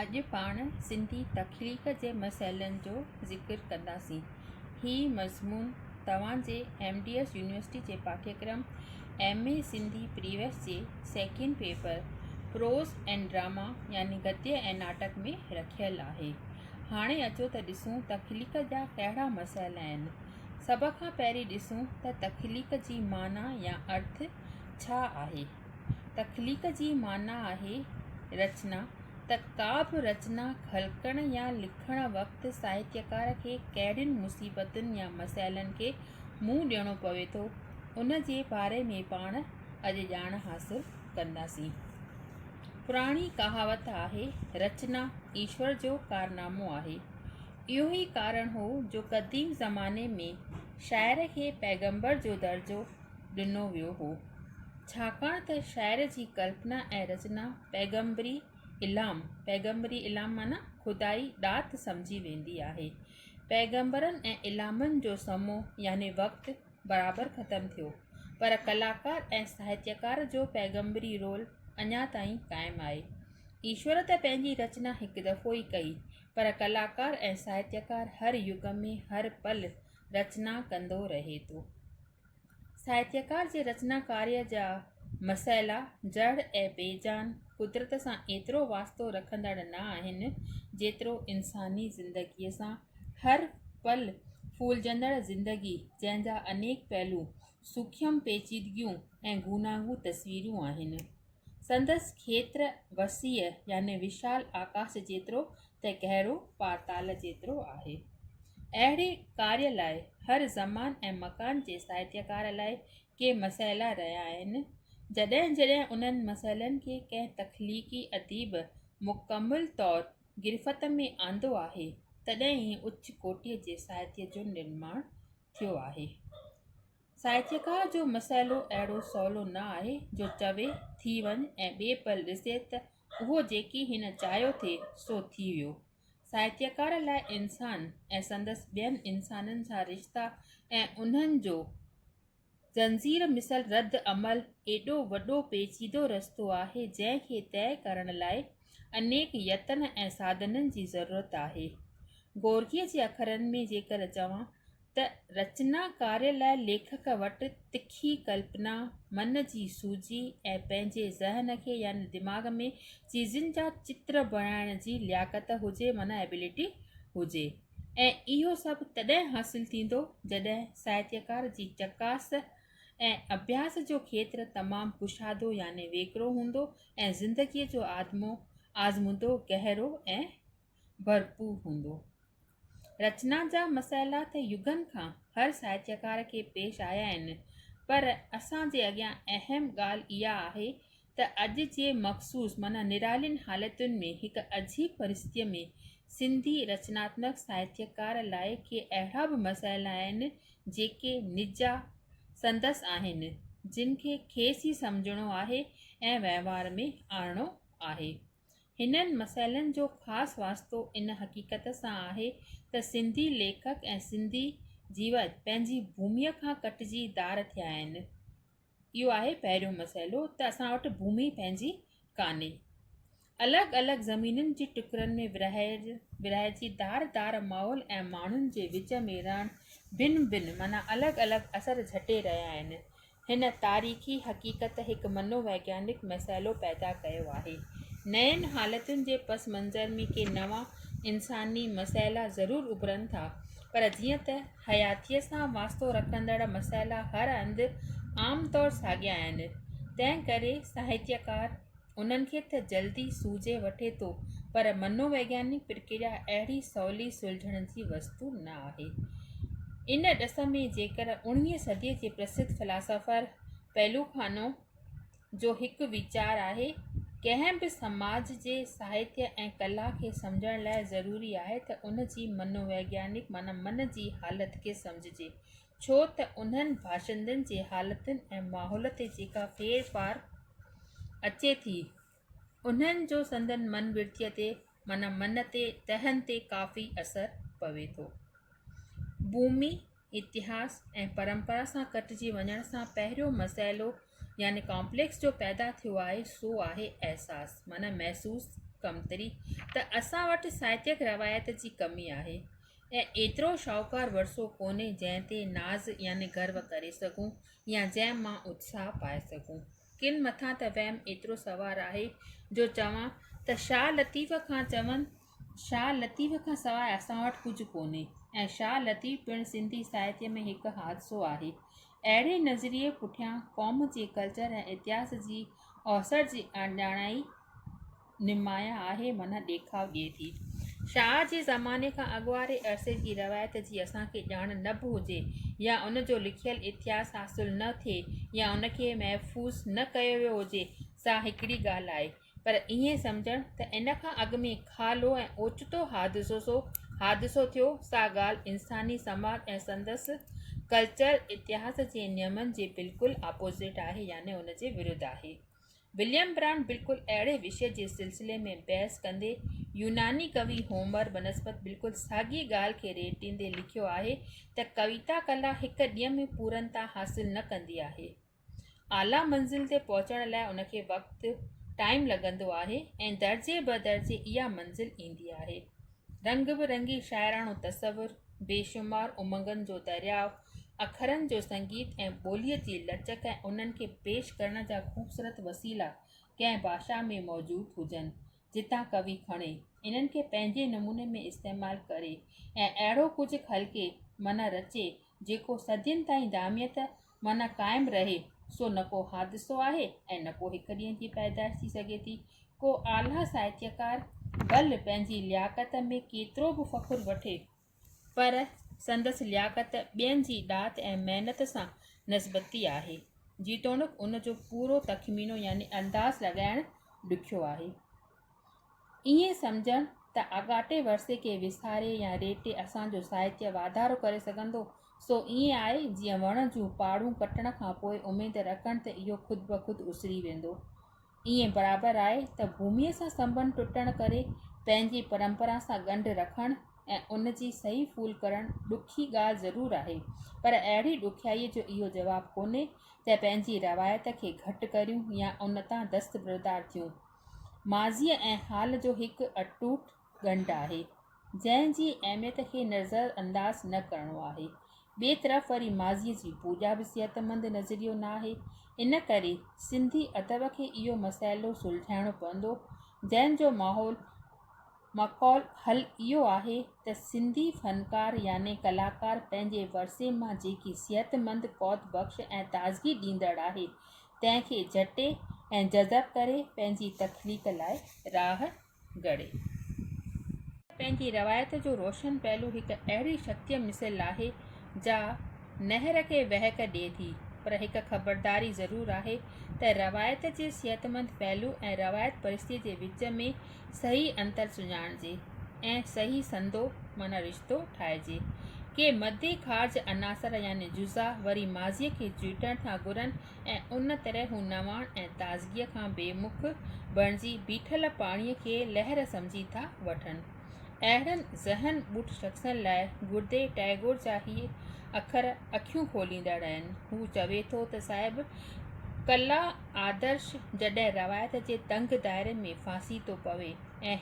اڄ پاڻ سنڌي تخليق جي مسئلن جو ذڪر ڪنداسين. هي مضمون توهان جي ايم ڊي ايس يونيورسٽي جي پاٺيڪرم ايم اي سنڌي پريويس جي second paper prose and drama يعني گدي ۽ ناٽڪ ۾ رکيل آهي. هاڻي اچو ته ڏسون تخليق جا ڪهڙا مسئلا آهن. سڀ کان پهرين ڏسون ته تخليق جي معنيٰ يا ارٿ ڇا آهي؟ تخليق جي معنيٰ آهي رچنا، ته ڪا به رچنا خلقڻ يا لکڻ وقت ساهتيڪار کي ڪهڙين مصيبتن يا مسئلن کي منهن ڏيڻو پوي ٿو، ان جي باري ۾ پاڻ اڄ ڄاڻ حاصل ڪنداسين. پراڻي ڪهاوت آهي، رچنا ايشور جو ڪارنامو آهي. اهو ئي ڪارڻ هو جو قديم زماني ۾ شاعر کي پيغمبر جو درجو ڏنو ويو هو، ڇاڪاڻ ته شاعر جي ڪلپنا ۽ رچنا پيغمبري الھام، پيغمبري الھام معنيٰ خدائي ڏات سمجهي ويندي آهي. پيغمبرن ۽ الھامن جو سمو يعني وقت برابر ختم ٿيو، پر ڪلاڪار ۽ ساهتيڪار جو پيغمبري رول اڃا تائين قائم آهي. ايشور ته پنهنجي رچنا هڪ دفعو ئي ڪئي، پر ڪلاڪار ۽ ساهتيڪار هر يگ ۾ هر پل رچنا ڪندو رهي ٿو. ساهتڪار جي رچناڪاريء جا مسئلا جڙ ۽ بيجان قدرت سان ايترو واسطو رکندڙ نه آهن، جيترو انساني زندگيء سان. هر پل ڦولجندڙ زندگي، جنهن جا انيڪ پهلو، سوکيم پيچيدگيون ۽ گوناگون تصويرون آهن. سندس کيتر وسيع يعني وشال آڪاس جيترو ته گهرو پاتال جيترو آهي. اهڙي ڪاري لاء هر زمان ۽ مڪان جي ساهتيڪار لاء ڪي مسئلا رهيا آهن، جڏهن جڏهن انهن مسئلن کي ڪنهن تخليقي اديب مڪمل طور گرفت ۾ آندو آهي، تڏهن ئي اچ ڪوٽيء جي ساهتيء جو نرماڻ ٿيو آهي. ساهتڪار جو مسئلو اهڙو سولو نه آهي جو چوي، ٿي وڃ ۽ ٻئي پل ڏسي ته اهو جيڪي هن چاهيو ٿي سو ٿي ويو. ساهتڪار لاء انسان ۽ سندس ٻين انسانن سان رشتا ۽ انهن جو زنجير مثل رد عمل ايڏو وڏو پيچيدو رستو آهي جنهن کي طئي ڪرڻ لاء انيڪ يتن ۽ ساڌنن جي ضرورت آهي. گورگيء جي اکرن ۾ جيڪر چوان ته رچنا ڪاري لاء ليکڪ وٽ تکي ڪلپنا، من جي سوجهي ۽ پنهنجي ذهن کي يعني دماغ ۾ چيزن جا چتر بڻائڻ جي لياقت هجي معنيٰ ابيلٽي هجي ۽ اهو سڀ تڏهن حاصل ٿيندو جڏهن ساهتيڪار جي چڪاس ۽ اڀياس جو کيتر تمام ڪشادو يعني ويڪرو هوندو ۽ زندگيء جو آدمو آزمودو گهرو ۽ ڀرپور هوندو. رچنا جا مسئلا ته يگن کان هر ساهتيڪار کي پيش آيا آهن، پر اسان جي اڳيان اهم ڳالهه اها آهي ته اڄ جي مخصوص معنيٰ نرالين حالتن ۾ هڪ عجيب پرستيء ۾ سنڌي رچناتمڪ ساهتيڪار لاء ڪي اهڙا به مسئلا آهن، جيڪي نجا سندس آهن، جن کي کيس ئي سمجهڻو آهي ۽ وهنوار ۾ آڻڻو آهي. هنن مسئلن جو خاص واسطو ان حقيقت سان آهي ته سنڌي ليکڪ ۽ سنڌي جيوت پنهنجي ڀوميء کان ڪٽجي ڌار ٿيا آهن. اهو آهي پهريون مسئلو ته اسان وٽ ڀومي پنهنجي ڪانهي. الڳ الڳ زمينن جي ٽڪرن ۾ ورهائج ورهائجي ڌار ڌار ماحول ۽ ماڻهن جي وچ ۾ رهڻ ڀن ڀن معنيٰ الڳ الڳ اثر جهٽي رهيا آهن. هن تاريخي حقيقت هڪ منو ويگيانڪ مسئلو پيدا ڪيو آهي. نين حالتن جي پس منظر ۾ ڪي نوان انساني مسئلا ضرور اڀرن ٿا، پر جيئن ته حياتيء سان واسطو رکندڙ مسئلا هر هنڌ عام طور ساڳيا آهن، تنهن ڪري ساهتيڪار، انهن کي ته جلدي سوجهي وٺي ٿو پر منو ويگيانڪ پرڪريا اهڙي سولي سلجهڻ جي وستو نه آهي. ان ڏس ۾ جيڪر اڻويهين صديء جي پرسڌ فلاسافر پيلوخانو جو هڪ ويچار آهي ڪنهن به سماج جي ساهتيه ۽ ڪلا کي سمجهڻ لاء ضروري آهي ته ان جي منو ويگيانڪ معنيٰ من جي حالت کي سمجهجي ڇو ته انهن باشندن جي حالتن ۽ ماحول تي جيڪا ڦير ڦار اچي ٿي، انهن جو سندن من ورديء تي معنيٰ من تي تهن تي ڪافي اثر پوي ٿو. بومي، اتهاس ۽ پرمپرا سان ڪٽجي وڃڻ سان پهريون مسئلو يعني ڪامپليڪس جو پيدا ٿيو آهي سو آهي احساس معنيٰ محسوس ڪمتري ته اسان وٽ ساهتيڪ روايت جي ڪمي آهي. ۽ ايترو شاهوڪار ورثو ڪونهي جنهن تي ناز يعني گرو ڪري سگهون يا جنهن مان اتساهه پائي سگهون. ڪن مٿان ته وهم ايترو سوار آهي جو چوان ته شاهه لطيف کان چون شاهه لطيف کان سواء اسان وٽ ڪجهه ڪونهي ۽ شاهه لطيف پڻ سنڌي ساهتيه ۾ هڪ حادثو آهي. اهڙي نظريي پٺيان قوم جي ڪلچر ۽ اتهاس جي اوسر جي اڻڄاڻائي، نمايان آهي منھن ڏيکاء ڏئي ٿي. شاهه جي زماني کان اڳ واري عرصي جي روايت جي اسان کي ڄاڻ نه به هجي يا ان جو لکيل اتهاس حاصل نه ٿئي يا ان کي محفوظ نه ڪيو ويو هجي سا هڪڙي ڳالھ آهي پر ائين سمجهڻ ته ان کان اڳ ۾ کالو ۽ اوچتو حادثوسو حادثو ٿيو سا ڳالھ انساني سماج ۽ سندس ڪلچر اتهاس جي نيمن جي بلڪل آپوزٽ آهي يعني ان جي ورود آهي. وليم برانڊ بلڪل اهڙي وشي جي سلسلي ۾ بحث ڪندي يوناني ڪوي هومر بنسبت بلڪل ساڳي ڳالهه کي ريٽ ڏيندي لکيو آهي ته ڪويتا ڪلا هڪ ڏينهن ۾ پورنتا حاصل نه ڪندي آهي اعليٰ منزل تي پهچڻ لاء ان کي وقت ٽائيم لڳندو آهي ۽ درجي بدرجي اها منزل ايندي آهي رنگ به رنگي شاعراڻو تصور، بيشمار امنگن جو درياء، اکرن جو سنگيت ۽ ٻوليء جي لچڪ ۽ انهن کي پيش ڪرڻ جا خوبصورت وسيلا ڪنهن باشا ۾ موجود هجن، جتان ڪوي کڻي، انهن کي پنهنجي نموني ۾ استعمال ڪري ۽ اهڙو ڪجهه خلقي، معنيٰ رچي، جيڪو صدين تائين داميت معنيٰ قائم رهي، سو نه ڪو حادثو آهي ۽ نه ڪو هڪ ڏينهن جي پيدائش ٿي سگهي ٿي. ڪو اعليٰ ساهتيڪار ڀل پنهنجي لياقت ۾ ڪيترو به فخر وٺي، پر سندس لياقت ٻين جي ڏات ۽ محنت سان نسبتي آهي، جيتوڻيڪ ان جو پورو تخمينو يعني انداز لڳائڻ ڏکيو آهي. ائين سمجهڻ ته آڳاٽي ورثي کي وساري يا ريٽي اسان جو ساهتيه واڌارو ڪري سگهندو، سو ائين آهي جيئن وڻ جون پاڙون ڪٽڻ کان پوء اميد رکڻ ته اهو خود بخود اسري ويندو. ائين برابر آهي ته ڀوميء سان سنبنڌ ٽٽڻ ڪري پنهنجي پرمپرا سان ڳنڍ رکڻ ۽ ان جي صحيح ڦول ڪرڻ ڏکي ڳالهه ضرور آهي، پر اهڙي ڏکيائيء جو اهو جواب ڪونهي ته پنهنجي روايت کي گهٽ ڪريون يا ان تان دستبردار ٿيون. ماضيء ۽ حال جو هڪ اٽوٽ ڳنڍ آهي، جنهن جي اهميت کي نظر انداز نه ڪرڻو آهي. ٻئي طرف وري ماضيء جي پوڄا به صحتمند نظريو نه آهي. ان ڪري سنڌي ادب کي اهو مسئلو سلجهائڻو پوندو، جنهن جو ماحول معقول حل اهو آهي ته سنڌي فنڪار يعني ڪلاڪار پنهنجي ورثي مان جيڪي صحتمند، قوت بخش ۽ تازگي ڏيندڙ آهي، تنهن کي جهٽي ۽ جذب ڪري پنهنجي تخليق لاء راهه گهڙي. پنهنجي روايت جو روشن پهلو هڪ اهڙي شڪتيء مثل آهي، جا نهر کي وهڪ ڏئي ٿي، پر هڪ خبرداري ضرور آهي ته روايت جي صحتمند پهلو ۽ روايت پرستيء جي وچ ۾، صحيح انتر سڃاڻجي ۽ صحيح سندو معنيٰ رشتو ٺاهجي. ڪي مدي خارج عناصر يعني جزا وري ماضيء کي چيٽڻ ٿا گهرن ۽ ان طرح هو نواڻ ۽ تازگيء کان بي مک بڻجي بيٺل پاڻيء کي لهر سمجهي ٿا وٺن. اهڙن ذهن ٻوٽ شخصن لاء گردي ٽئگور جا هي اکر اکيون کوليندڙ آهن. هو چوي ٿو ته صاحب ڪلا، آدرش جڏهن روايت جي تنگ دائري ۾ ڦاسي ٿو پوي ۽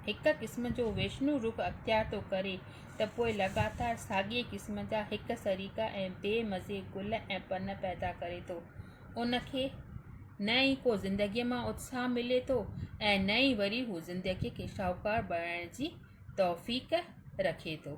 هڪ قسم جو ويشنو رخ اختيار ٿو ڪري ته پوء لڳاتار ساڳئي قسم جا هڪ سريڪا ۽ بي مزي گل ۽ پن پيدا ڪري ٿو. ان کي نه ئي ڪو زندگيء مان اتساهه ملي ٿو ۽ نه ئي وري هو زندگيء کي شاهوڪار بڻائڻ جي توفيق رکي ٿو.